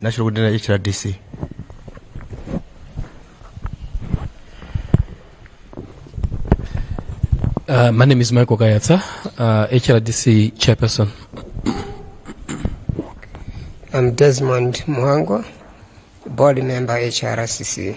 national kuti na hrdc Uh, my name is Michael Kayatsa, uh, HRDC chairperson. I'm Desmond Muhango, board member HRCC.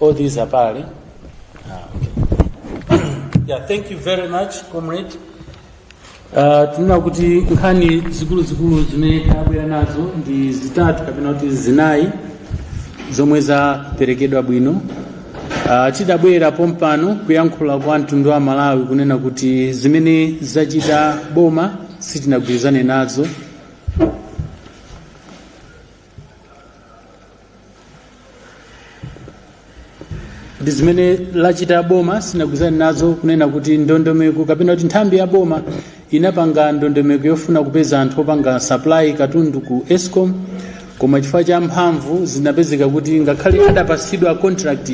All these are valid. Ah, okay. yeah, thank you very much, comrade. Uh, tinena kuti nkhani zikuluzikulu zimene tabwera nazo ndi zitatu kapena kuti zinayi zomwe zaperekedwa bwino uh, tidabwera pompano kuyankhula kwa mtundu wa malawi kunena kuti zimene zachita boma sitinagwirizane nazo ndi zimene lachita boma sinagwirizane nazo kunena kuti ndondomeko kapena kuti nthambi ya boma inapanga ndondomeko yofuna kupeza anthu opanga supply katundu ku escom koma chifukwa cha mphamvu zinapezeka kuti ngakhale adapatsidwa contract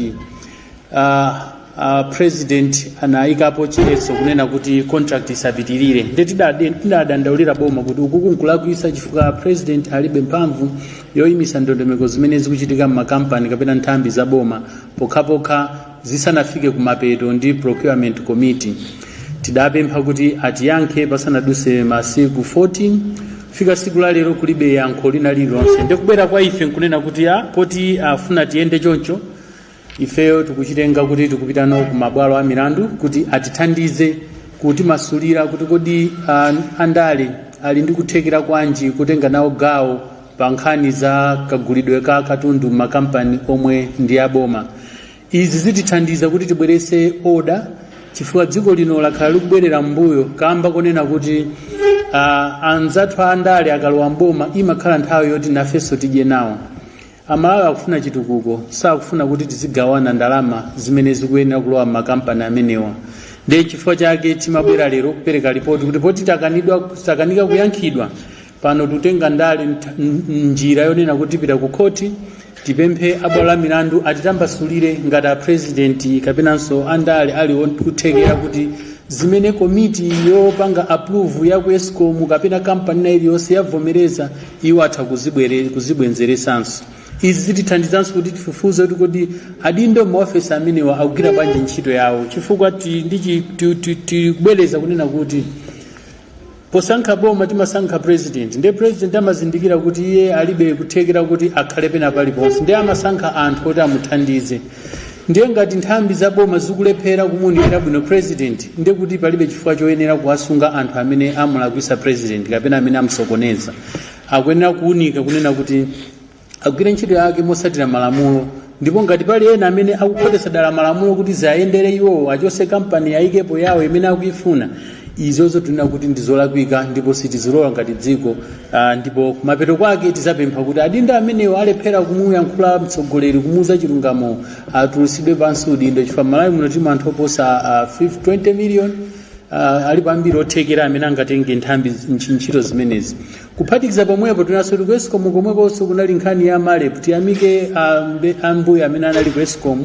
uh, Uh, president anayikapo chiletso kunena kuti contract isapitirire nde tidadandaulira boma kuti ukuku nkulakwisa chifukwa president alibe mphamvu yoyimisa ndondomeko zimene zikuchitika m'makampani kapena nthambi za boma pokhapokha zisanafike kumapeto ndi procurement committee tidapempha kuti atiyankhe pasanaduse masiku 14 fika siku la lero kulibe yankho lina lililonse ndikubwera kwa ife nkunena kuti a poti afuna tiyende choncho ifeyo tikuchitenga kuti tikupita nawo ku mabwalo a milandu kuti atithandize kutimasulira kuti kodi ah, andale ali ndi kuthekera kwanji kutenga nawo gawo pa nkhani za kagulidwe ka katundu m'makampani omwe ndi aboma izi zitithandiza kuti tibwerese oda chifukwa dziko lino lakhala likubwerera m'mbuyo kamba konena kuti ah, anzathu andale akalowa mboma imakhala nthawi yoti nafenso tidye nawo Amalawi akufuna chitukuko sakufuna kuti tizigawana ndalama zimene zikuyenera kulowa m'makampani amenewa ndiye chifukwa chake timabwera lero kupereka lipoti kuti poti takanidwa takanika kuyankhidwa pano tutenga ndale ntha- n- n- njira yonena kuti tipita ku khoti tipemphe abwalo la milandu atitambasulire ngati a president kapenanso andale ali nkuthekera kuti zimene komiti yopanga approve ya ku escom kapena kampani ina iliyonse yavomereza iwo atha kuzibwere- kuzibwenzeretsanso izi zitithandizanso kuti tifufuze kuti kodi adindo maofesi amenewa akugwira bwanji ntchito yawo chifukwa ti- ndi chi- ti- ti- tikubwereza kunena kuti posankha boma timasankha president ndiye president amazindikira kuti iye alibe kuthekera kuti akhale pena paliponse ndiye amasankha anthu kuti amuthandize Ndiye ngati nthambi za boma zikulephera kumuunikira bwino president ndiye kuti palibe chifukwa choyenera kuwasunga anthu amene amulakwisa president kapena amene amusokoneza. Akuyenera kuunika kunena kuti agwire ntchito yake motsatira malamulo ndipo ngati pali ena amene akukhotetsa dala malamulo kuti ziayendere iwowo achose kampani ayikepo yawo imene akuifuna izozo tunena kuti ndizolakwika ndipo sitizilola ngati dziko Ah, ndipo kumapeto kwake tizapempha kuti adindo amenewo alephera kumuyankhula mtsogoleri kumuuza chilungamo atulusidwe pansi udindo chifukwa malawi muno tili anthu oposa ah, 20 million ah, alipo ambiri othekera amene angatenge nthambi ntch- ntchito zimenezi kuphatikiza pomwepo tinanso tili ku escom komwekonso kunali nkhani ya marep tiyamike ah, mbe- ambuyo amene anali ku escom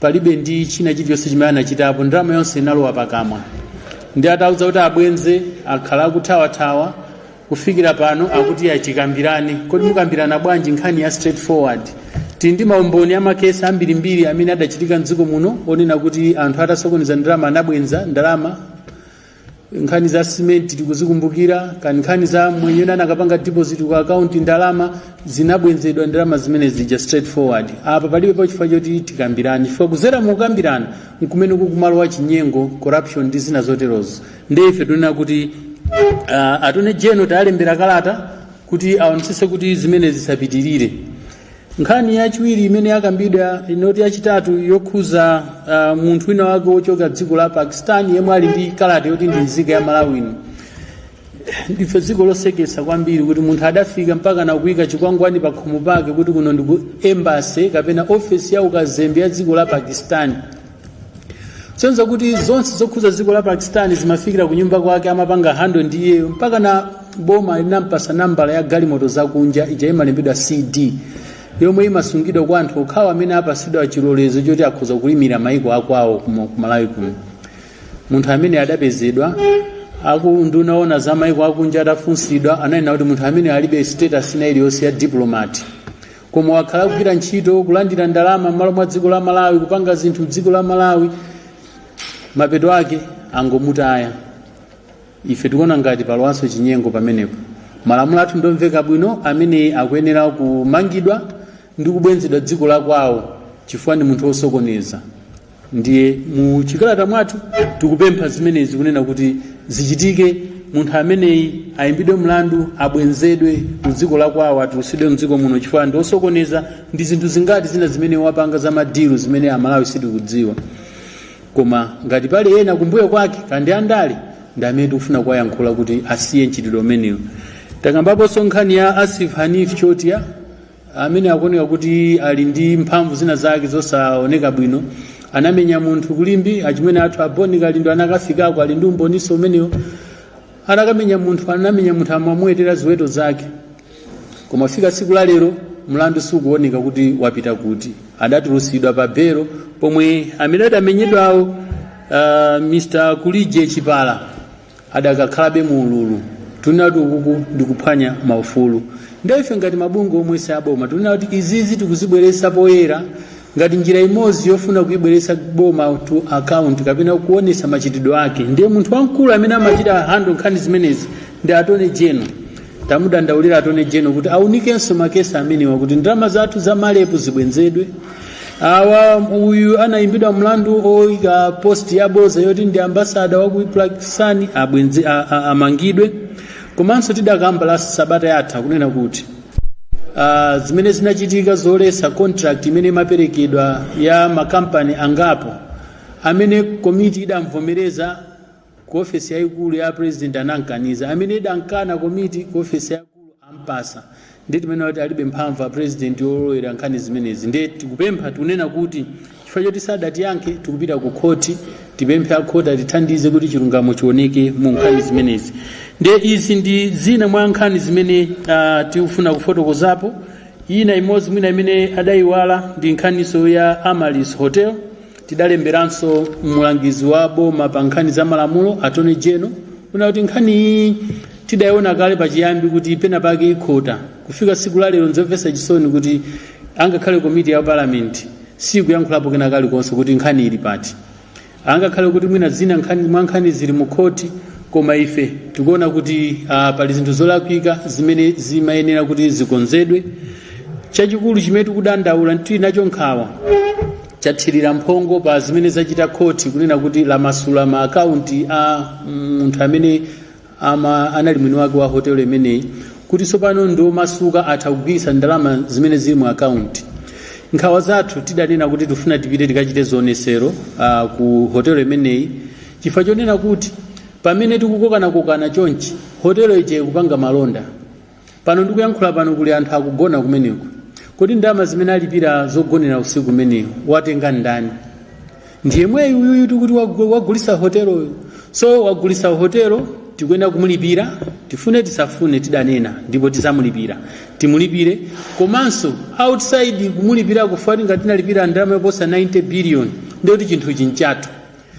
palibe ndi china chilichonse chimene anachitapo ndalama yonse inalowa pakamwa ndi atauza kuti abwenze akhala akuthawathawa kufikira pano akuti achikambirane kodi mukambirana bwanji nkhani ya straightforward tili ndi maumboni amakesi ambirimbiri amene adachitika mdziko muno onena kuti anthu atasokoneza ndalama anabwenza ndalama nkhani za cement tikuzikumbukira kani nkhani za mwenye ena anakapanga deposit ku account ndalama zinabwenzedwa ndalama zimene zija straight forward apa palibe pa chifukwa choti tikambirane chifukwa kuzera mukambirana nkumene kukumalowa chinyengo corruption ndi zina zoterozo ndiye ife tunena kuti uh, attorney general tayalembera kalata kuti aonetsese kuti zimene zisapitirire nkhani yachiwiri imene yakambidwa inoti yachitatu yokhuza uh, munthu wina wake wochoka dziko la pakistan yemwe ali ndi kalata yoti ndi nzika ya malawi muno ndife dziko losekesa kwambiri kuti munthu adafika mpaka nakuyika chikwangwani pa khomo pake kuti kuno ndi ku embassy kapena ofesi ya ukazembe ya dziko la pakistan sonza kuti zonse zokhuza dziko la pakistan zimafikira kunyumba kwake amapanga handle ndi iyeyo mpaka na boma linampasa nambala ya galimoto zakunja ija imalembedwa cd yomwe imasungidwa kwa anthu okhawo amene apasidwa chilolezo choti akhoza kuimira maiko akwawo kumo- ku malawi kuno munthu amene adapezedwa a ku unduna oona za maiko akunja atafunsidwa ananena kuti munthu amene alibe status ina iliyonse ya diplomat koma wakhala kugwira ntchito kulandira ndalama m'malo mwa dziko la malawi kupanga zinthu m'dziko la malawi mapeto ake angomutaya ife tikuona ngati palowanso chinyengo pamenepo malamulo athu ndomveka bwino amene akuyenera kumangidwa ndi kubwenzedwa dziko la kwawo chifukwa ndi munthu wosokoneza ndiye mu chikalata mwathu tikupempha zimenezi kunena kuti zichitike munthu ameneyi ayimbidwe mlandu abwenzedwe ku dziko la kwawo atulusidwe mdziko muno chifukwa ndi osokoneza ndi zinthu zingati zina zimene wapanga za madilu zimene amalawi sitikudziwa koma ngati pali ena kumbuyo kwake kaya ndi andale ndi amene tikufuna kuwayankhula kuti asiye mchitidwe umenewu takambaponso nkhani ya asif hanif chotia amene akuoneka kuti ali ndi mphamvu zina zake zosaoneka bwino anamenya munthu ku limbe achimwene athu a bon kalindo anakafikako ali ndi umboniso umenewo anakamenya munthu anamenya munthu amamwetera ziweto zake koma fika tsiku la lero mlandu sukuoneka kuti wapita kuti adatulusidwa pa belo pomwe amene adamenyedwawo uh, mr kulije chipala adakakhalabe mu ululu tunati ukuku ndi kuphwanya maufulu nde ife ngati mabungwe omwe si aboma tunena kuti izizi tikuzibweretsa poyera ngati njira imodzi yofuna kuibweretsa boma to account kapena kuonetsa machitidwe ake ndiye munthu wamkulu amene amachita handle nkhani zimenezi ndi Attorney General tamudandaulira Attorney General kuti aunikenso makesi amenewa kuti ndalama zathu za malepu zibwenzedwe uyu anayimbidwa mlandu oyika post ya boza yoti ndi ambasada wa ku Pakistan amangidwe komanso tidakamba la sabata yatha kunena kuti ah, zimene zinachitika zoletsa contract imene imaperekedwa ya makampani angapo amene komiti idavomereza ku ofesi yayikulu ya apresident anankaniza, amene idakana komiti ku ofesi yayikulu ampatsa nde timanena kuti alibe mphamvu apresident yolowelera nkhani zimenezi nde tikupempha tikunena kuti chifukwa choti sadatiyankhe tikupita ku khoti tipemphe a khoti atithandize kuti chilungamo chioneke mu nkhani zimenezi nde izi ndi zina mwa nkhani zimene uh, tikufuna kufotokozapo ina imodzi mwina imene adayiwala ndi nkhaniso ya amalis hotel tidalemberanso mlangizi wa boma pa nkhani za malamulo Attorney General kunena kuti nkhani iyi tidayiona kale pachiyambi kuti pena pake ikhota kufika siku la lero nzomvetsa chisoni kuti angakhale komiti ya palamenti sikuyankhulapo kena kalikonse kuti nkhani ili pati angakhale kuti mwina zina nkhani mwa nkhani zili mu khoti koma ife tikuona kuti uh, pali zinthu zolakwika zimene zimayenera kuti zikonzedwe chachikulu chimene tikudandaula tili nacho nkhawa chathirira mphongo pa zimene zachita khoti kunena kuti lamasula ma akaunti a munthu amene ama, anali mwini wake wa hotelo imeneyi kuti tsopano ndi omasuka atha kugwiritsa ndalama zimene zili mu akaunti nkhawa zathu tidanena kuti tifuna tipite tikachite zionesero uh, ku hotelo imeneyi chifukwa chonena kuti pamene tikukokanakokana chonchi hotelo ija ikupanga malonda Pano ndikuyankhula pano kuli anthu akugona kumeneko. Kodi ndalama zimene alipira zogonera usiku umenewu watenga ndani? Ndi yemweyu uyuyu tikuti wagu- wagulisa hoteloyo. So wagulisa hotelo tikuyenera kumulipira, tifune tisafune tidanena ndipo tidzamulipira. Timulipire komanso outside kumulipira chifukwa choti ngati tinalipira ndalama yoposa 90 billion ndikuti chinthu nchathu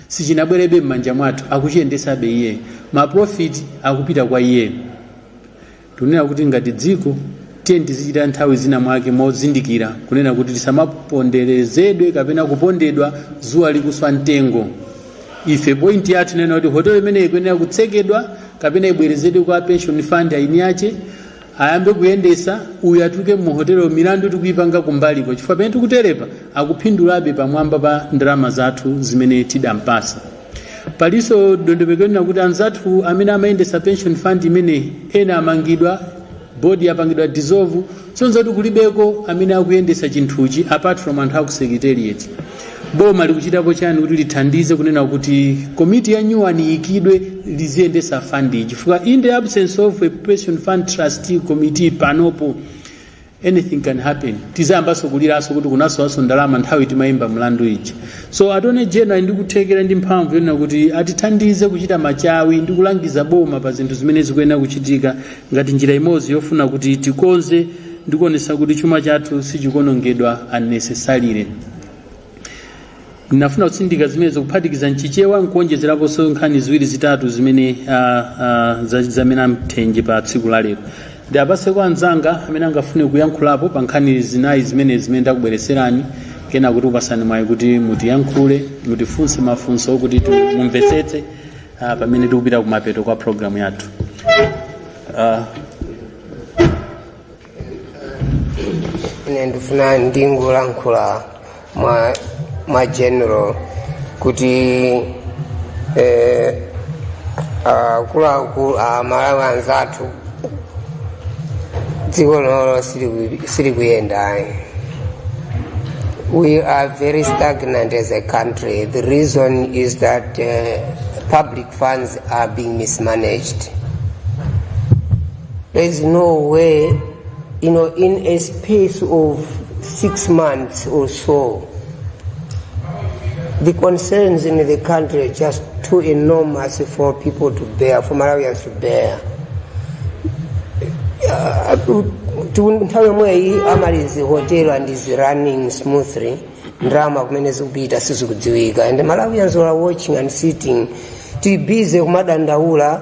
sichinabwerebe m'manja mwathu akuchiyendetsabe iyeyo. Ma profit akupita kwa iyeyo. tunena kuti ngati dziko tiye tizichita nthawi zina mwake mozindikira kunena kuti tisamaponderezedwe kapena kupondedwa dzuwa likuswa mtengo ife point yathu tinena kuti hotelo imeneyi ikuyenera kutsekedwa kapena ibwerezedwe kwa pension fund aini ache ayambe kuyendetsa uyu atuluke mu hotelo milandu tikuipanga kumbaliko chifukwa pamene tikuterepa akuphindulabe pamwamba pa ndalama zathu zimene tidampatsa palinso dondomeko yonena kuti anzathu amene amayendesa pension fund imeneyi ena amangidwa bodi yapangidwa dissolve sonza kuti kulibeko amene akuyendesa chinthuchi apart from anthu aku secretariat boma likuchitapo chani kuti lithandize kunena kuti komiti ya nyuwani iyikidwe liziyendesa fund iyi chifukwa in the absence of a pension fund trustee committee panopo anything can happen tizayambanso kuliranso kuti kunasowanso ndalama nthawi timayimba mlandu ija so attorney general ndi kuthekera ndi mphamvu yonena kuti atithandize kuchita machawi ndi kulangiza boma pa zinthu zimene zikuyenera kuchitika ngati njira imodzi yofuna kuti tikonze ndikuonesa kuti chuma chathu sichikonongedwa unnecessarily ndinafuna kutsindika zimenezo kuphatikiza mchichewa nkuonjezeraponso nkhani ziwiri zitatu zimene ah, ah, za- zamene amthenje pa tsiku la lero ndiwapatse kwa anzanga amene angafune kuyankhulapo pa nkhani zinayi zimene zimene ndakubwereserani kenako tikupasani mwayi kuti mutiyankhule mutifunse mafunso kuti tu- mumvetsetse ah, pamene tikupita kumapeto kwa programu yathu Ah, ine ndifuna ndingolankhula mwa mwa general kuti eh, akuluakulu amalawi anzathu dziko lino siliku- silikuyendayi we are very stagnant as a country the reason is that uh, public funds are being mismanaged There is no way, you know, in a space of six months or so, the concerns in the country are just too enormous for people to bear, for Malawians to bear. Uh, tu- nthawi yomweyi amalizi hotel and is running smoothly ndalama kumene zikupita sizikudziwika and malawians are watching and sitting tili busy kumadandaula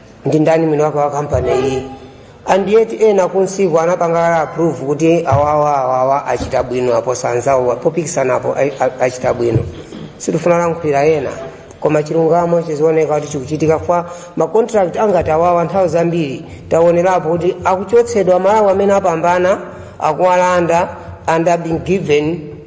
ndi ndani mwini wake wa kampani iyi and yet ena kunsiku anapanga approve kuti awawa awawa achita bwino aposa anzawo popikisanapo achita bwino sitifuna kulankhulira ena koma chilungamo chizioneka kuti chikuchitika chifukwa macontract angati awawa nthawi zambiri taonerapo kuti akuchotsedwa amalawi amene apambana akuwalanda and are being given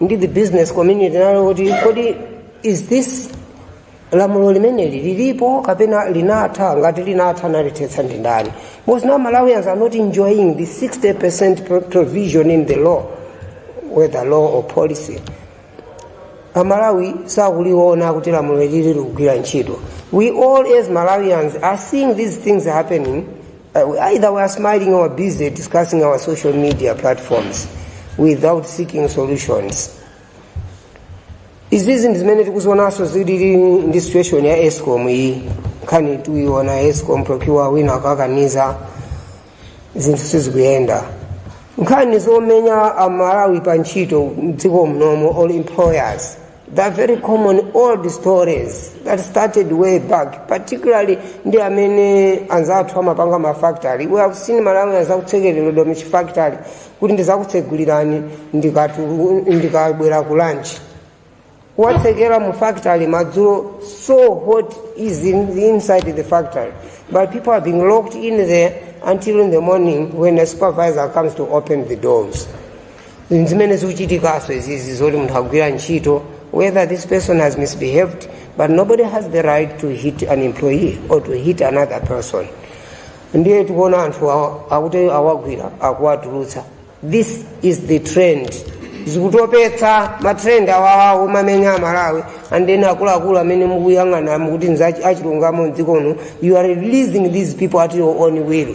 ndi the business community nayo kuti kodi is this lamulo limeneli lilipo kapena linatha ngati linatha analithetsa ndi ndani because now malawians are not enjoying the 60 percent provision in the law whether law or policy amalawi sakuliona kuti lamulo ili likugwira ntchito we all as malawians are seeing these things happening Uh, either we are smiling or busy discussing on social media platforms without seeking solutions. izizi ndi zimene tikuzionanso zilili ndi situation ya escom iyi nkhani tikuyiona escom procure wina akakaniza zinthu sizikuyenda nkhani zomenya amalawi pa ntchito mdziko momuno all employers they are very common old stories that started way back particularly ndi amene anzathu amapanga mafactory we have seen malawians akutsekereredwa muchifactory kuti ndizakutsegulirani ndikatu- ndikabwera ku lunch awatsekera mu factory madzulo so hot is in, inside the factory but people are being locked in there until in the morning when a supervisor comes to open the doors zimene zikuchitikaso izizi zoti munthu akugwira ntchito whether this person has misbehaved but nobody has the right to hit an employee or to hit another person ndiye tikuona anthu awa- akuti awagwira akuwatulutsa this is the trend zikutopetsa matrend awawawo amamenya amalawi and then akuluakulu amene mukuyang'ana mukuti za chilungamo mdziko muno you are releasing these people at your own will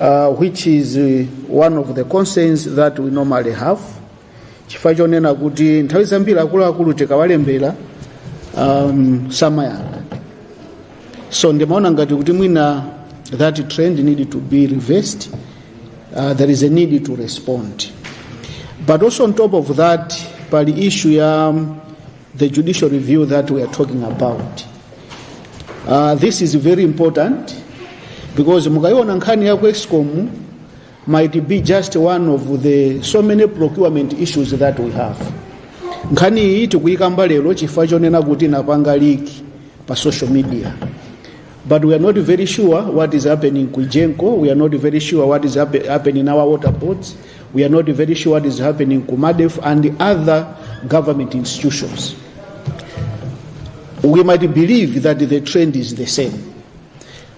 uh, which is uh, one of the concerns that we normally have chifukwa chonena kuti nthawi zambiri akuluakulu tikawalembera um, samayankha so ndimaona ngati kuti mwina that trend need to be reversed uh, there is a need to respond but also on top of that pali issue ya um, The judicial review that we are talking about. Uh, this is very important because mukayiona nkhani ya ku Escom might be just one of the so many procurement issues that we have. Nkhani iyi tikuyikamba lero chifukwa chonena kuti inapanga leak pa social media. But we are not very sure what is happening ku Egenco. We are not very sure what is happe- happening in our water boards. We are not very sure what is happening ku MARDEF and the other government institutions. We might believe that the trend is the same.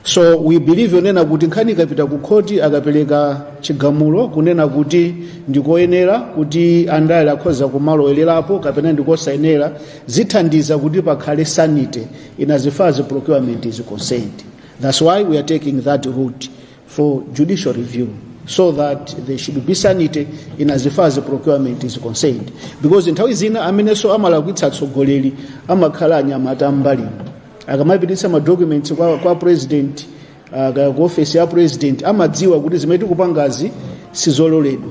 So we believe yonena kuti nkhani ikapita ku khoti akapereka chigamulo kunena kuti ndikoyenera kuti andale akhoza kumalowererapo kapena ndikosayenera zithandiza kuti pakhale sanity in as far as the procurement is concerned. That's why we are taking that route for judicial review so that there should be sanity in as far as the procurement is concerned because nthawi zina amenenso amalakwitsa atsogoleri amakhala anyamata ambali akamapititsa madocuments kwa, kwa president uh, ku ofesi ya president amadziwa kuti zimene tikupangazi sizololedwa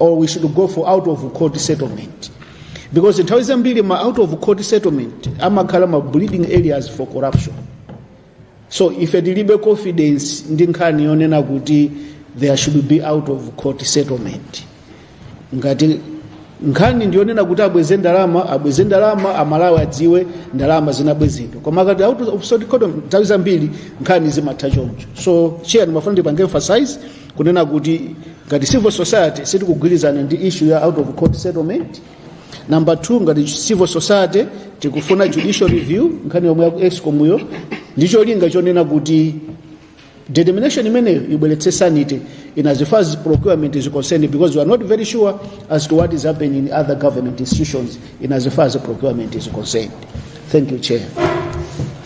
or we should go for out of court settlement because nthawi zambiri ma out of court settlement amakhala ma breeding areas for corruption so ife tilibe confidence ndi nkhani yonena kuti there should be out of court settlement ngati nkhani ndiyonena kuti abweze ndalama abweze ndalama amalawi adziwe ndalama zinabwezedwa koma akati out of court nthawi zambiri nkhani zimatha choncho so chair ndimafuna ndipange emphasize kunena kuti ngati civil society sitikugwirizana ndi issue ya out of court settlement number 2 ngati civil society tikufuna judicial review nkhani yomwe yaku escom yo ndi cholinga chonena kuti determination imeneyo ibweretse sanity in as far as procurement is concerned because we are not very sure as to what is happening in other government institutions in as far as procurement is concerned thank you chair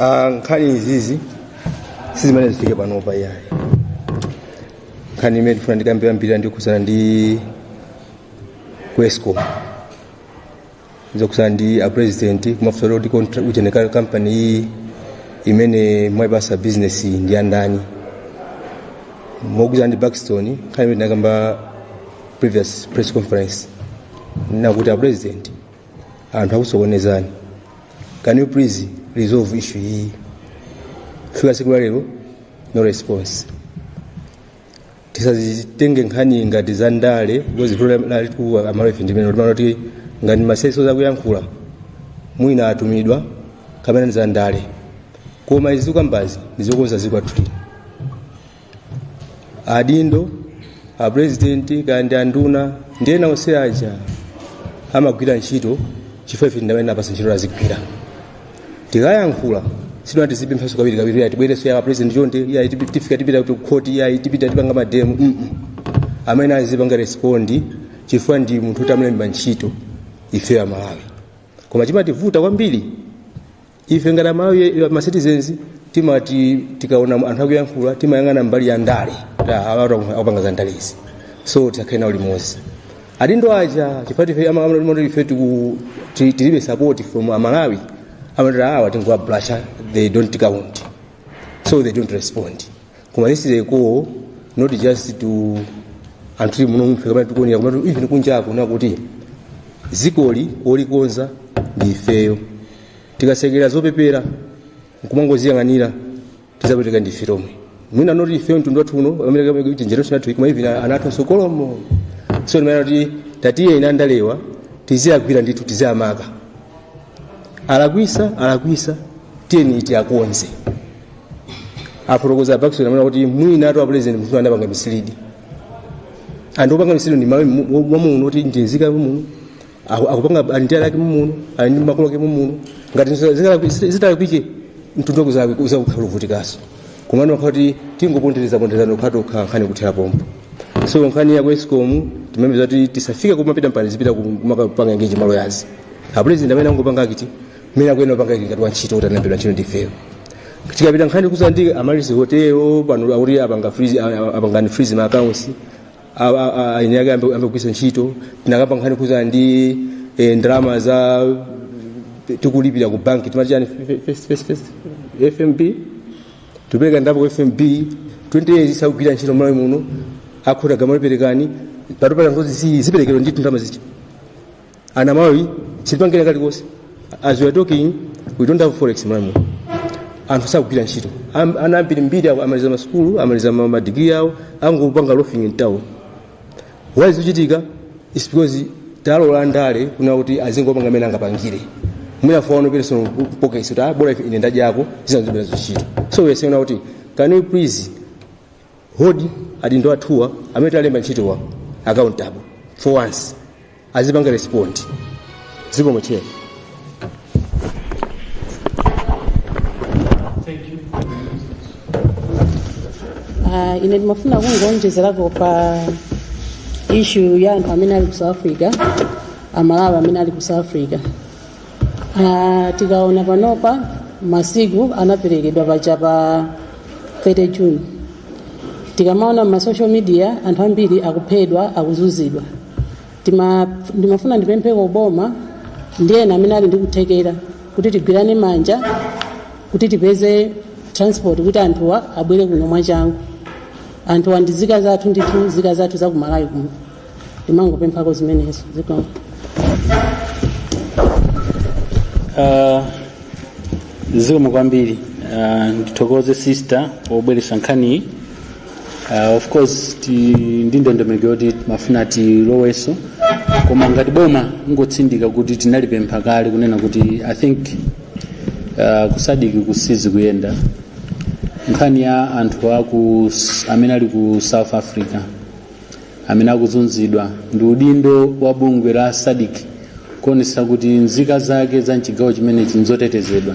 Ah, nkhani izizi sizimene zafika panopa iyayi nkhani imene ndifuna ndikambirembiri ndi yokhudzana ndi ku escom zokhudzana ndi a president kuwafunsa kuti contra- ujeneka kampani iyi imene mwaipasa business iyi ndi yandani mokhudzana ndi buxton nkhani imene tinakamba previous press conference kunena kuti a president anthu akusokonezani can you please resolve issue iyi fika siku la lero no response tisazitenge nkhani ngati za ndale because vuto lathu amalawife ndimene timati kuti ngati ma CSOs akuyankhula mwina atumidwa kapena ndi za ndale koma izi tikukambazi ndizokonza dziko lathu lino adindo apurezidenti kaya ndi anduna ndi ena onse aja amagwira ntchito chifukwa ife ndi amene tinawapasa ntchito azigwira tikayankhula sikuti tizipemphaso kawiri kawiri iya tibwereso a apurezidenti chonde iya tifika tipita ku khoti iya tipita tipanga mademo mmene azipanga respondi chifukwa ndi munthu tamlemba ntchito ife amalawi koma chimativuta kwambiri ife ngati amalawi masitizenzi timati tikaona anthu akuyankhula timayang'ana mbali ya ndale akupanga za ndale izi so tisakhale nawo limodzi adindo aja chifukwa ife amangoti ife tiku- ti- tilibe support from amalawi amati ah awa tingowabrasha they don't count so they don't respond koma this is a call not just to anthu tili muno mofe kapena tikuonera koma tu- even kunjako kunena kuti dzikoli olikonza ndi ifeyo tikasekera zopepela nkumangoziyang'anira tizapweteka ndi ife tomwe mwina not ifeyo mtundu wathu uno pamene kapena kuti generation yathu koma even ana athu akutsogolomo so ndimanena kuti tatiyeni andalewa tiziwagwira ndithu tiziwamaka alakwisa alakwisa tiyeni tiwakonze afotokoza bakisoni amanena kuti mwina to apulezidenti munthu anawapanga misilidi and wopanga misilidi ndi mmalawi wamuno ndi nzika yamuno aku- akupanga ali ndi ana ake mumuno ali ndi makolo ake mumuno ngati zitalakwike mtundu wake uza- uzakukhala uvutikaso komano wakhala kuti tingoponderezaponderezana kukhala tokha nkhani kuthera pompo so nkhani ya ku escom timapeza kuti tisafike kumapita mpani zipita kumakapanga engeji maloyazi apulezidenti amene angopanga akiti mmene akuyenera kupanga ngati wantchito kuti analembedwa ntchito ndifeyo tikakamba nkhani kudza ndi Amaryllis hotelo pano akuti apanga freeze- a- a- apangani freeze ma accounts A- a- a- aine ake ambe ambe kugwiritsa ntchito tinakamba nkhani kudza ndi eh, ndalama zomwe tikulipira ku banki timati chani First- first- first- fmb tikupereka dipo ku fmb 20 years isakugwira ntchito m'malawi muno akhuta gamaliperekani patopata ngozi ziperekedwa ndi ndalama za ana malawi sizipanga kalikonse as we are talking we don't have forex m'malawi anthu sakugwira ntchito Am- ana ambiri mbiri awo amaliza masukulu amaliza ma- madigiri awo angopanga loafing in town why zikuchitika is because talola andale kunena kuti azingopanga amene angapangire mwina for their own personal pockets kuti ah, bora ife ine nda m'jiba yako zisanzobera zochita so we are saying kuti can you please hold adindo athuwa amene talemba ntchitowa accountable for once azipanga respond dziko mochedwa Ah, ine ndimafuna kungowonjezerako pa ishu ya anthu amene ali ku south africa amalawi amene ali ku south africa Ah, tikaona panopa masiku anaperekedwa paja pa 30 june tikamaona ma social media anthu ambiri akuphedwa akuzunzidwa ndimafuna ndipempheko boma ndi ena amene ali ndi kuthekera kuti tigwirane manja kuti tipeze transport kuti anthuwa abwere kuno mwachangu anthuwa ndi nzika zathu ndithu nzika zathu za kumalawi kuno ndimangopemphako zimenezo zikomo Uh, zikomo kwambiri uh, ndithokoze sister pobweretsa nkhaniyi Uh, of course tili ndi ndondomeko yoti timafuna tilowenso koma ngati boma kungotsindika kuti tinalipempha kale kunena kuti i think uh, ku sadc uku sizikuyenda nkhani ya anthu aku amene ali ku south africa amene akuzunzidwa ndi udindo wa bungwe la sadc kuonetsetsa kuti nzika zake za mchigawo chimenechi nzotetezedwa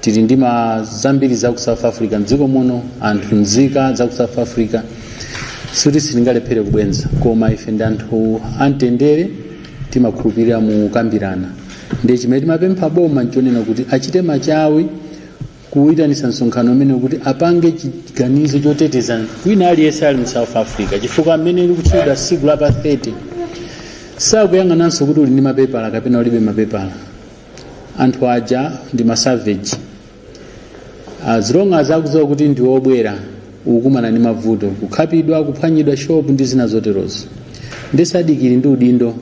tili ndi ma zambiri za ku south africa mdziko muno anthu nzika za ku south africa sikuti sitingalephere kubweza koma ife ndi anthu amtendere timakhulupirira mu kukambirana ndiye chimene timapempha boma nchonena kuti achite machawi kuyitanisa msonkhano umene kuti apange chiganizo choteteza wina aliyense ali mu south africa chifukwa mmene likutchedwa siku la pa 30 sakuyang'ananso kuti uli ndi mapepala kapena ulibe mapepala anthu aja ndi masaveji as long as akudziwa kuti ndi obwera ukukumana ndi mavuto kukhapidwa kuphwanyidwa shop ndi zina zoterozo ndiye sadiki ili ndi udindo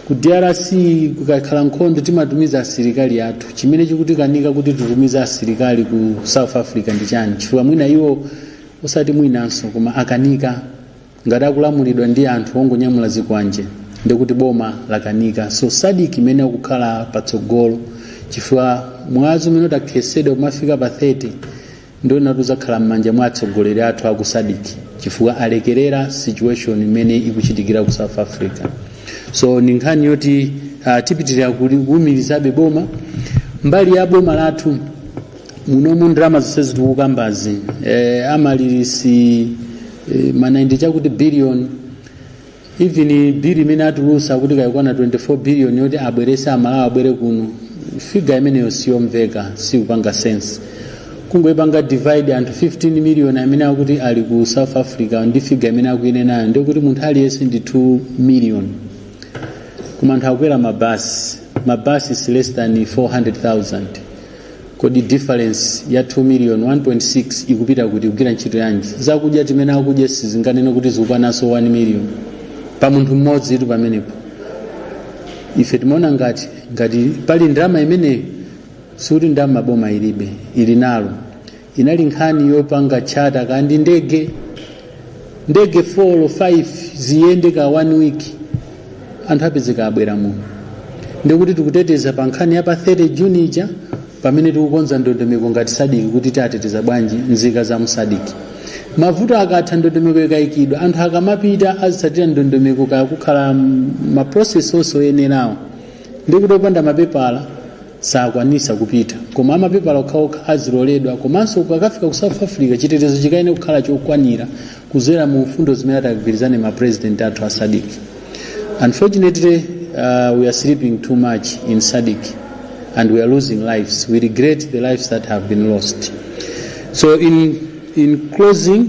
ku drc kukakhala nkhondo timatumiza asilikali athu chimene chikutikanika kuti titumize asilikali ku south africa ndi chani chifukwa mwina iwo osati mwinanso koma akanika Ngati akulamulidwa ndi anthu ongonyamula zikwanje ndiye kuti boma lakanika so Sadic imeneyo ikhale patsogolo chifukwa mwazi umene utakhesedwe kumafika pa 30 ndi woti uzakhala mmanja mwa atsogoleri athu aku Sadic chifukwa alekelera situation imene ikuchitikira ku South Africa so ndi nkhani yoti uh, tipitirira kuli- kuumirizabe boma mbali ya boma lathu munomu ndalama zonse tikukambazi eh, amalirisi e, ma 90 chakuti billion even bill imene atulusa kuti kaya ikukwana 24 billion yoti abwerese amalawi abwere kuno figa imeneyo siyomveka sikupanga sense kungoyipanga divide anthu 15 million amene akuti ali ku south africa ndi figa imene akuinenayo ndiye kuti munthu aliyense ndi 2 million koma anthu akwera mabasi mabasi is less than 400000 kodi difference ya 2 million 1.6 ikupita kuti kugwira ntchito yanji zakudya zimene akudya sizinganene kuti zikukwananso 1 million pa munthu mmodzi tu pamenepo ife timaona ngati ngati pali ndalama imeneyo sikuti ndalama boma ilibe ili nazo inali nkhani yopanga tchata kaya ndi ndege ndege 4 or 5 ziyende ka one week anthu apezeka abwera muno ndikuti tikuteteza pa nkhani ya pa 30 juni ija pamene tikukonza ndondomeko ngati sadiki kuti tiateteza bwanji nzika za musadiki mavuto akatha ndondomeko ikayikidwa anthu akamapita azitsatira ndondomeko kaya kukhala maprocess onse oyenerawo ndikuti opanda mapepala sakwanisa kupita koma amapepala okhaokha aziloledwa komanso ukakafika ku south africa chitetezo chikayenera kukhala chokwanira kuzera mu mfundo zimene atagwirizane ma president athu a sadic unfortunately uh, we are sleeping too much in sadic and we are losing lives we regret the lives that have been lost so in, in closing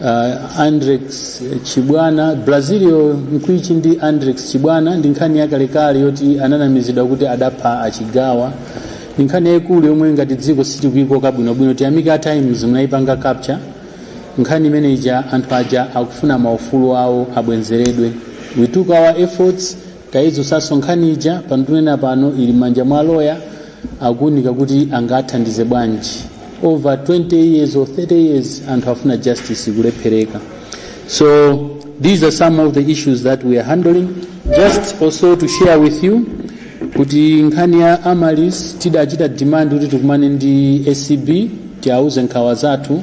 Uh, Andrex Chibwana Brazilio Mkwichi ndi Andrex Chibwana ndi nkhani yakalekale yoti ananamizidwa kuti adapha achigawa ndi nkhani yayikulu yomwe ngati dziko sitikuyikoka bwinobwino tiyamike a times munayipanga capture nkhani imene ija anthu aja akufuna maufulu awo abwenzeredwe we took our efforts tayidzutsanso nkhani ija pano tikunena pano ili mmanja mwa loya akuunika kuti angathandize bwanji over 20 years or 30 years anthu afuna justice kulephereka so these are some of the issues that we are handling just also to share with you kuti nkhani ya amalis tidachita demand kuti tikumane ndi acb tiauze nkhawa zathu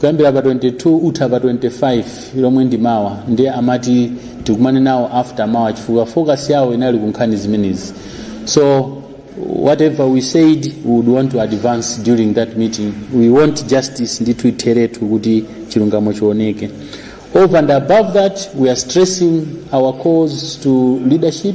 kuyambira pa 22 kutha pa 25 lomwe ndi mawa ndiye amati tikumane nawo after mawa chifukwa focus yawo inali kunkhani zimenezi so whatever we said we would want to advance during that meeting we want justice ndithu itheretu kuti chilungamo chioneke over and above that we are stressing our calls to leadership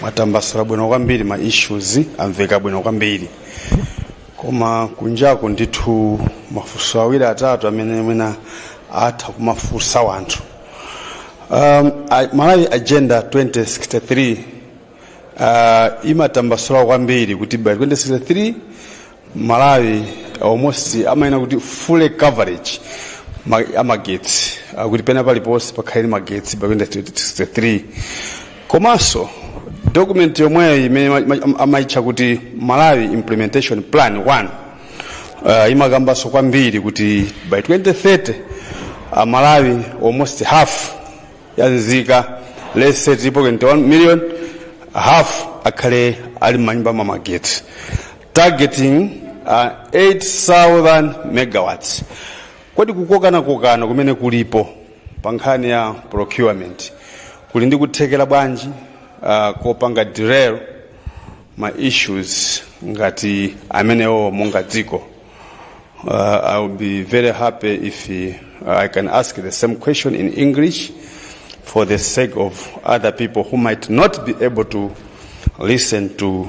mwatambasula bwino kwambiri ma issues amveka bwino kwambiri koma kunjaku ndithu mafunso awiri atatu amene mwina atha kumafunsa wanthu um, a- malawi agenda 2063 uh, imatambasula kwambiri kuti by 2063 malawi almost amayenera kuti full coverage ma- amagetsi akuti pena paliponse pakhale ndi magetsi by 2063 komanso document yomweyo imene ma- ma- amaitcha kuti malawi implementation plan 1 uh, imakambanso kwambiri kuti by 2030 amalawi almost half ya nzika let's say 3.1 million half akhale ali mmanyumba mwa magetsi targeting uh, 8000 megawatts kodi kukokanakokana kumene kulipo pa nkhani ya procurement kuli ndi kuthekera bwanji uh, kopanga derail ma issues ngati amenewo monga dziko uh, i will be very happy if uh, i can ask the same question in english for the sake of other people who might not be able to listen to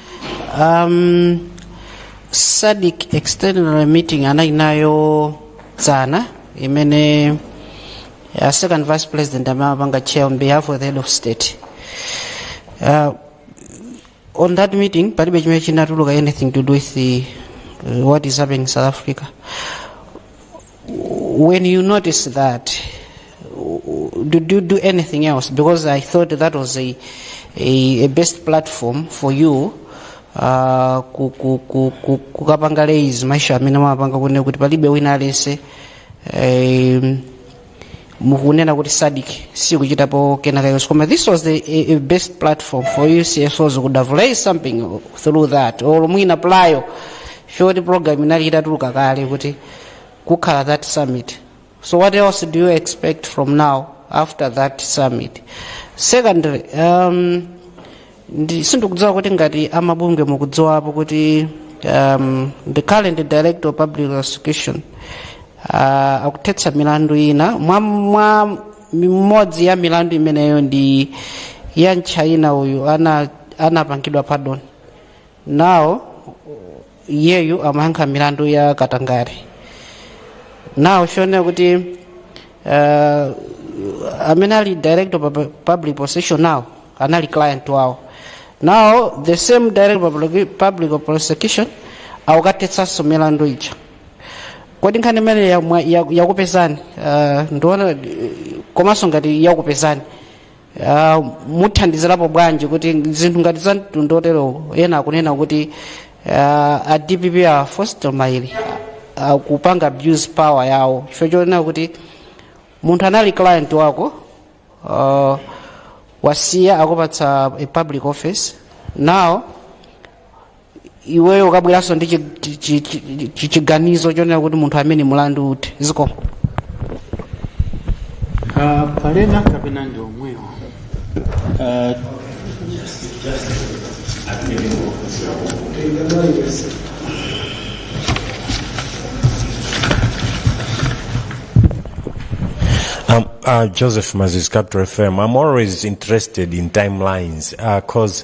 um, sadic external meeting anali nayo dzana imene uh, second vice president amapanga chair on behalf of the head of state uh, on that meeting palibe chimene chinatuluka anything to do with the, uh, what is happening in south africa when you notice that did you do anything else because i thought that was a, a, a best platform for you uh, ku- ku- ku- ku- kukapanga raise ma issue amene mumapanga kunena kuti palibe wina aliyense um, mukunena kuti sadc sikuchitapo kena kalikonse koma this was the a, a best platform for you csos could have raised something through that or mwina prior to that program inali itatuluka kale kuti kukhala that summit so what else do you expect from now after that summit secondly um, Ndi- sindikudziwa kuti ngati amabungwe mukudziwapo kuti um, the current director of public prosecution uh, akuthetsa milandu ina mwa, mwa imodzi ya milandu imeneyo ndi ya mtchaina uyu ana anapangidwa pardon nawo iyeyu amayankha milandu ya katangale now zikuoneka kuti uh, amene ali director of Pub- public prosecution nawo anali client wawo now the same director of Public- public prosecution akukathetsanso milandu ija kodi nkhani imeneyi yakupezani uh, ndiona komanso ngati yakupezani Ah, muthandizirapo bwanji kuti zinthu ngati za mtundu wotero ena akunena kuti ah, a dpp a Fostino Maele akupanga abuse power yawo chifukwa chonena kuti munthu anali client wako ah, wasiya akupatsa a public office now iweyo ukabweranso ndi chi- chi- chi- chi- chi- chiganizo chonena kuti munthu amene mulandu uthe zikomo Ah, pali ena kapena ndi omwewo Ah, Um, uh, Joseph Mazis, Capital FM. I'm always interested in timelines because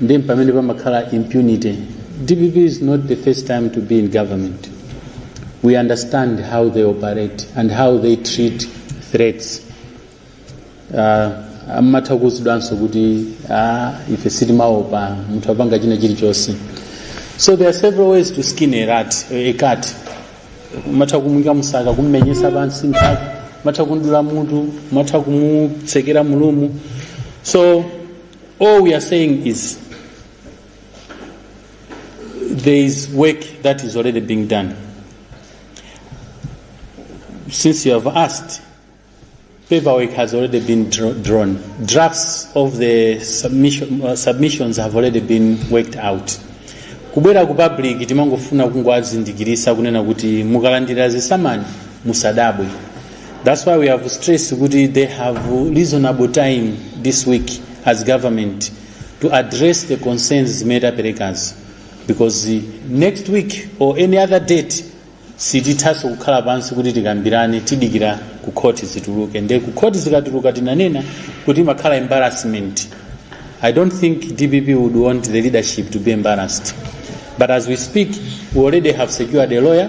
nde mpamene pamakhala impunity dpp is not the first time to be in government we understand how they operate and how they treat threats uh, amatha kuwuzidwanso kuti ah, ife sitimaopa munthu apanga china chilichonse so there are several ways to skin a rat a cat umatha kumuika mu saka kummenyetsa pansi mphaka umatha kumdula mutu umatha kumutsekera mu room so All we are saying is there is work that is already being done. Since you have asked, paperwork has already been dra- drawn. Drafts of the submission, uh, submissions have already been worked out. kubwera ku public timangofuna kungowazindikiritsa kunena kuti mukalandira zisamani musadabwe That's why we have stressed kuti they have reasonable time this week as government to address the concerns zimene taperekazi because uh, next week or any other date sitithanso kukhala pansi kuti tikambirane tidikira ku khoti zituluke nde ku khoti zikatuluka tinanena kuti imakhala embarrassment i don't think dpp would want the leadership to be embarrassed but as we speak we already have secured a lawyer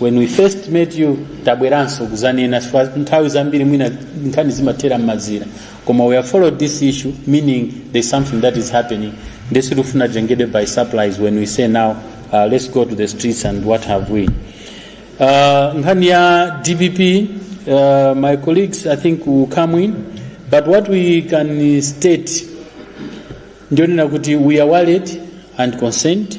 when we first met you tabweranso kuzanena chifukwa nthawi zambiri mwina nkhani zimathera mmazira koma we have followed this issue meaning there's something that is happening ndesi lufuna tengedwe by supplies when we say now uh, let's go to the streets and what have we uh, nkhani ya dpp uh, my colleagues i think will come in but what we can state ndionena kuti we are worried and concerned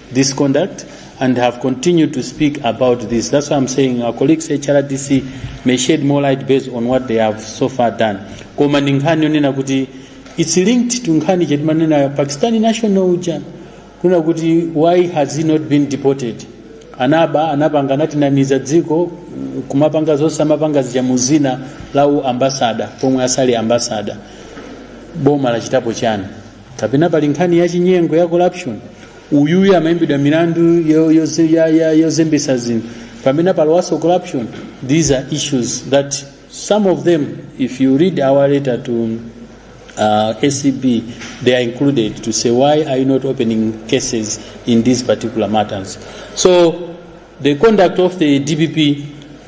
this conduct and have continued to speak about this. That's why I'm saying our colleagues HRDC may shed more light based on what they have so far done. Koma ndi nkhani yonena kuti it's linked to nkhani ija timanena Pakistani national uja kunena kuti why has he not been deported? Anaba anapanga anatinamiza dziko kumapanga zonse amapanga zija muzina la u ambassador pomwe asali ambassador boma lachitapo chani kapena pali nkhani ya chinyengo ya corruption uyuyu amaimbidwa mirandu yo- yoze- ya- ya- yozembesa zinthu pamene palowanso corruption these are issues that some of them if you read our letter to uh, acb they are included to say why are you not opening cases in these particular matters so the conduct of the dpp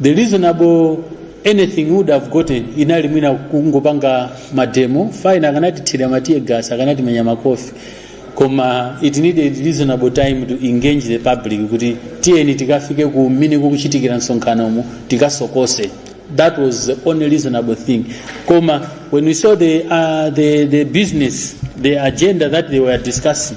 the reasonable anything we would have gotten inali mwina kungopanga mademo fine akanatithira ma tear gas akanatimenya makofi koma it needed reasonable time to engage the public kuti tiyeni tikafike ku mmene kukuchitikira msonkhanomo tikasokose that was the only reasonable thing koma when we saw the, uh, the, the business the agenda that they were discussing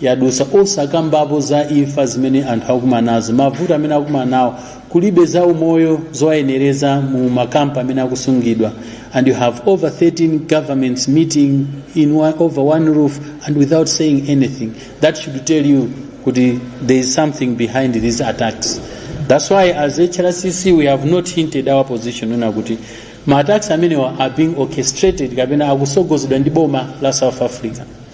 yadusa osakambapo za imfa zimene anthu akumana nazo mavuto amene akumana nawo kulibe za umoyo zowayenereza mu makampu amene akusungidwa and you have over 13 governments meeting in one, over one roof and without saying anything that should tell you kuti there is something behind these attacks that's why as hrcc we have not hinted our position kunena kuti ma attacks amenewa are being orchestrated kapena akusogozedwa ndi boma la south africa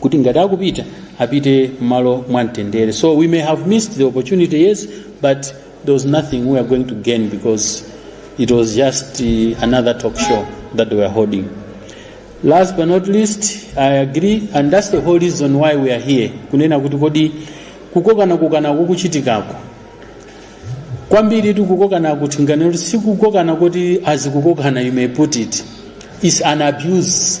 kuti ngati akupita apite mmalo mwamtendere so we may have missed the opportunity yes but there was nothing we were going to gain because it was just uh, another talk show that they were holding last but not least i agree and that's the whole reason why we are here kunena kuti kodi kukokana kokana kukuchitikako kwambiri tikukokana kuti nganero sikukokana kuti azikukokana you may put it is an abuse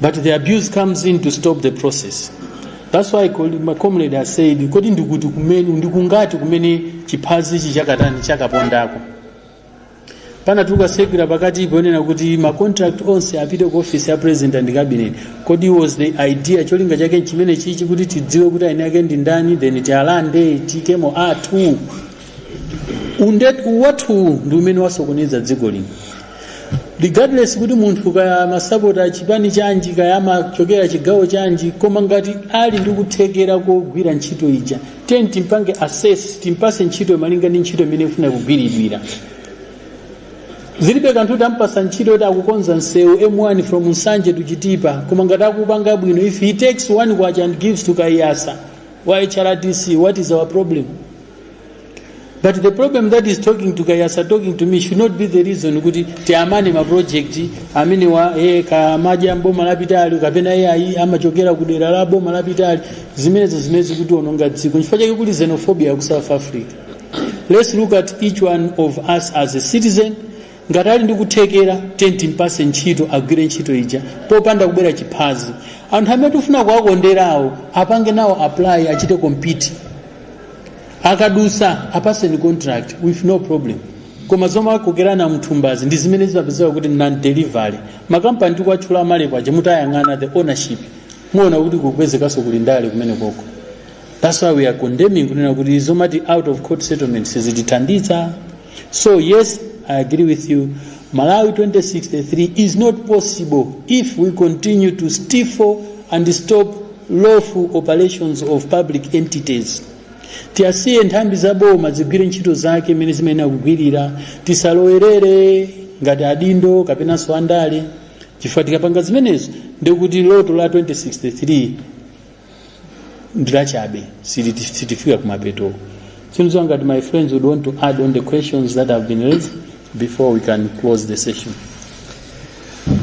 but the abuse comes in to stop the process that's why col- my comrade has said kodi ndikuti kumene ndikungati kumene chiphazichi chakatani chakapondako panatuluka sekula pakati ponena kuti ma contract onse apite ku office ya president and cabinet kodi was the idea cholinga chake chimene chichi kuti tidziwe kuti eni ake ndi ndani then tialande tiikemo athu undetu wathu ndi umene wasokoneza dziko lino regardless kuti munthu kaya amasapota chipani chanji kaya amachokera chigawo chanji koma ngati ali ndi kuthekera kogwira ntchito ija then timpange assess timpase ntchito malinga ndi ntchito mmene ifuna kugwiridwira zilibe kanthu tampasa ntchito kuti akukonza msewu m1 from nsanje to chitipa koma ngati akupanga bwino if he takes one kwacha and gives to kaiyatsa wa hrdc what is our problem but the problem that is talking to kaiyatsa talking to me should not be the reason kuti tiwamane ma project amenewa eh, ankajamba boma lapitali kapena iye ayi amachokera ku dera la boma lapitali zimenezo zimene zikutionongera dziko chifukwa chake kuli xenophobia ku south africa let's look at each one of us as a citizen ngati ali ndi kuthekera then timpase ntchito agwire ntchito ija popanda kubera chiphazi anthu amene tifuna kuwakonderawo apange nawo apply achite compete akadusa apaseni contract with no problem koma zomakokerana mthumbazi ndi zimene zimapezeka kuti non delivery makampani tikuwatchula kumalekoaja mutayang'ana the ownership muona kuti kukupezekanso kuli ndale kumene koko that's why we are condemning kunena kuti zomati out of court settlement sizitithandiza so yes i agree with you malawi 2063 is not possible if we continue to stifle and stop lawful operations of public entities tiyasiye nthambi za boma zigwire ntchito zake mmene zimayenera kugwirira tisalowerere ngati adindo kapenanso andale chifukwa tikapanga zimenezo ndikuti loto la 2063 ndilachabe sitifika kumapeto seems that my friends would want to add on the questions that have been raised before we can close the session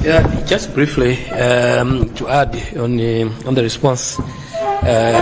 Yeah, just briefly um, to add on the, on the response. Uh,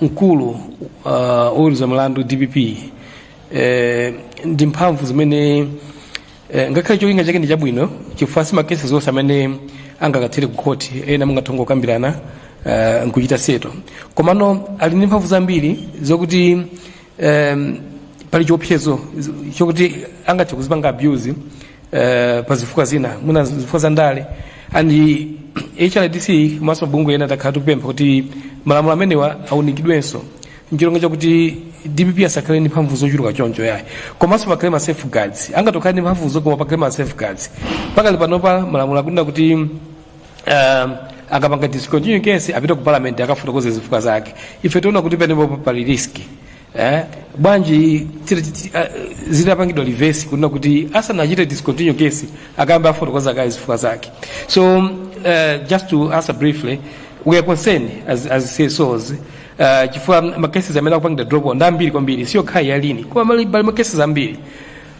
mkulu uh, woweruza mlandu dpp eh, ndi mphamvu zimene eh, ngakhale cholinga chake ndi chabwino chifukwa si makeses onse amene angakathere ku khoti ena mungathe kukambirana uh, nkuchita seto komano ali ndi mphamvu zambiri zokuti um, pali chiopsezo chokuti angathe kuzipanga abuse uh, pa zifukwa zina mwina zifukwa za ndale and hrdc komanso mabungwe ena takhala tikupempha kuti malamulo amenewa aunikidwenso nchilinga chakuti dpp asakhale ndi mphamvu zochuluka choncho yayi komanso pakhale ma safeguards angatokhala ndi mphamvuzo koma pakhale ma safeguards pakali panopa malamulo akunena kuti um, akapanga discontinue case apite ku parliament akafotokoze zifukwa zake ife tiona kuti penepo pali riski eh? bwanji tira- titi- ah, zitapangidwa reverse kunena kuti asanachite discontinue case akayambe afotokoza kaye zifukwa zake so uh, just to answer briefly we are concerned as, as CSOs uh, chifukwa makeses amene akupangidwa drop ndi ambiri kwambiri si yokhayi ya lin koma mali- pali makeses ambiri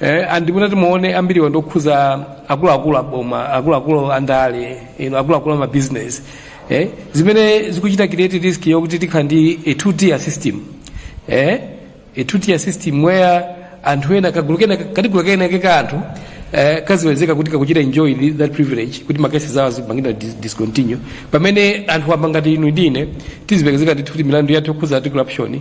Eh, andi munati muone ambiriwa ndi okhuza akuluakulu aboma akuluakulu andale ino akuluakulu amabizinesi eh, zimene zikuchita create risk yokuti tikhala ndi a two tier system eh, a two tier system where anthu ena kagulu kena kagulu kena kake ka anthu eh, kazipezeka kuti kakuchita enjoy thi- that privilege kuti makesi awo azipangidwa dis- discontinue pamene anthu amba ngati inu ndi ine tizipezeka ndithu kuti milandu yathu yokhuza article option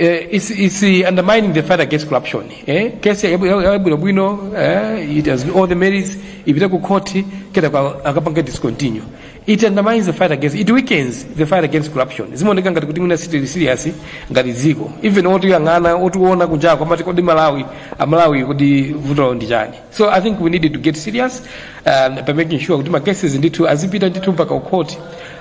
Eh, it's, it's eh, undermining the fight against corruption eh? kesi yabwinobwino eh? it has all the merits ipita ku court kenako a- akapanga discontinue it undermines the fight against it weakens the fight against corruption zimaoneka ngati kuti mwina sitili serious ngati dziko even otiyang'ana otiona kunjako akumati kodi malawi amalawi kodi vuto lawo ndi chani So I think we need to get serious um, by making sure kuti ma cases ndithu azipita ndithu mpaka ku court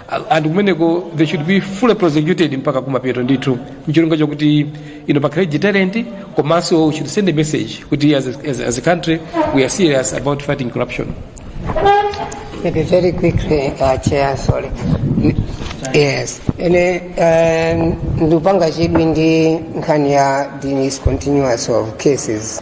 Uh, and kumeneko they should be fully prosecuted mpaka kumapeto ndithu ndi cholinga chakuti ino pakhale deterrent komanso we should send a message kuti as a, as, a- as a country we are serious about fighting corruption Maybe very quickly, uh, Chair, sorry. Yes. Ene, um, ndupanga chidwi ndi nkhani ya discontinuance of cases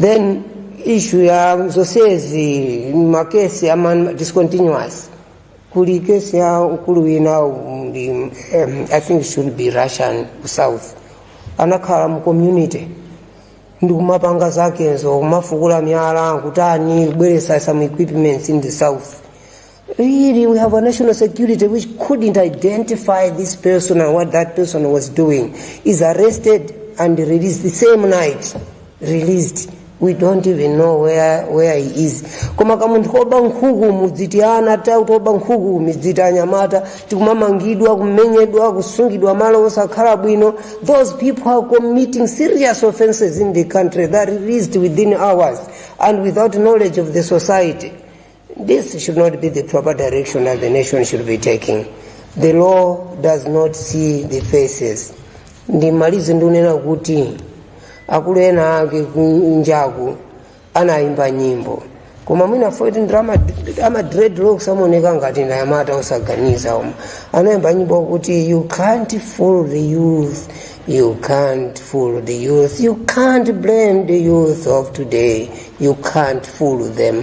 then issue ya zonsezi makesi ama discontinuance kuli kesi ya mkulu wina ndi um, i think should be russian ku south anakhala mu community ndikumapanga zakezo kumafukula miyala kutani kubweretsa some equipments in the south Really, we have a national security which couldn't identify this person and what that person was doing. Is arrested and released the same night. Released. We don't even know where, where he is. Koma kamunthu koba nkhuku mudziti ana ta utoba nkhuku midziti anyamata tikumamangidwa kumenyedwa kusungidwa malo osakhala bwino. Those people are committing serious offenses in the country that released within hours and without knowledge of the society. This should not be the proper direction that the nation should be taking. The law does not see the faces. Ndimalize ndunena kuti akulu ena ake kunjaku anayimba nyimbo koma mwina poti ndi ama dreadlocks amaoneka ngati ndi anyamata osaganiza koma anayimba nyimbo kuti you can't fool the youth you can't fool the youth you can't blame the youth of today you can't fool them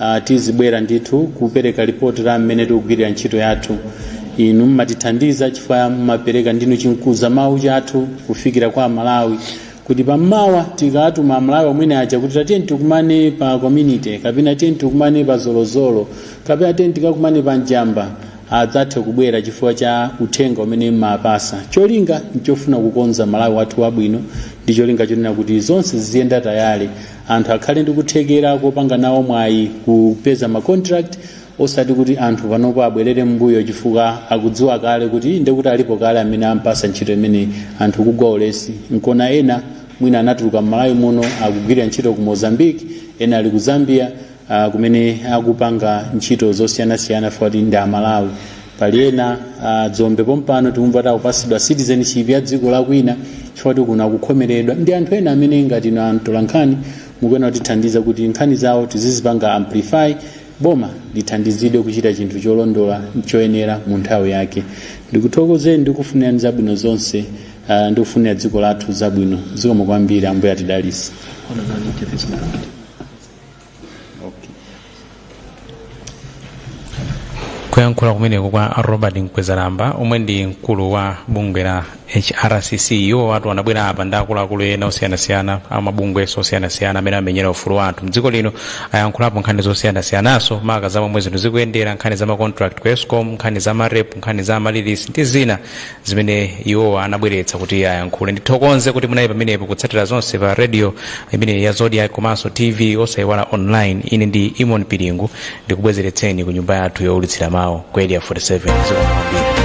Uh, tizibwera ndithu kupereka lipoti la mmene tikugwirira ntchito yathu inu mmatithandiza chifukwa mmapereka ndinu chimkuza mawu chathu kufikira kwa amalawi kuti pammawa tikamema amalawi omwene aja kuti tatiyeni tikumane pa community kapena tiyeni tikumane pa zolozolo kapena tiyeni tikakumane pa njamba adzathe kubwera chifukwa cha uthenga umene mmapasa cholinga nchofuna kukonza malawi wathu wabwino ndi cholinga chonena kuti zonse ziziyenda tayale anthu akhale ndi kuthekera kopanga nawo mwayi kupeza ma contract osati kuti anthu panopo abwerere m'mbuyo chifukwa akudziwa kale kuti ndekuti alipo kale amene ampasa ntchito imeneyi anthu kugwa ulesi nkona ena mwina anatuluka m'malawi muno akugwira ntchito ku mozambique ena ali ku zambia uh, kumene akupanga ntchito zosiyanasiyana fukwa choti ndi aMalawi pali ena uh, Dzombe pompano tikumva kuti akupasidwa citizenship ya dziko la kwina chifukwa kuti kuno akukhomeredwa ndi anthu ena amene ngati inu amtolankhani mukuyenera kutithandiza kuti nkhani zawo tizizipanga amplify boma lithandizidwe kuchita chinthu cholondola choyenera mu nthawi yake ndikuthokozeni ndikufunirani zabwino zonse uh, ndikufunira dziko lathu zabwino zikomo kwambiri ambuye atidalise okay. kuyankhula kumeneko kwa Robert Mkwezalamba omwe ndi mkulu wa bungwe la HRCC iwowatu anabwera apa ndi akuluakulu ena osiyanasiyana amabungweso osiyanasiyana amene amenyera ufulu wa anthu mdziko lino ayankhulapo nkhani zosiyanasiyanaso maka za momwe zinthu zikuyendera nkhani za macontract ku ESCOM nkhani za MAREP nkhani za ma releases ndi zina zimene iwowa anabweretsa kuti ayankhule ndithokoze kuti munali pamenepo kutsatira zonse pa radio imene ya Zodiak komanso tv osayiwala online ine ndi Eamon Piringu ndikubwezeretseni ku nyumba yathu yowulutsira mawu ku Area 47 zikomo kwambiri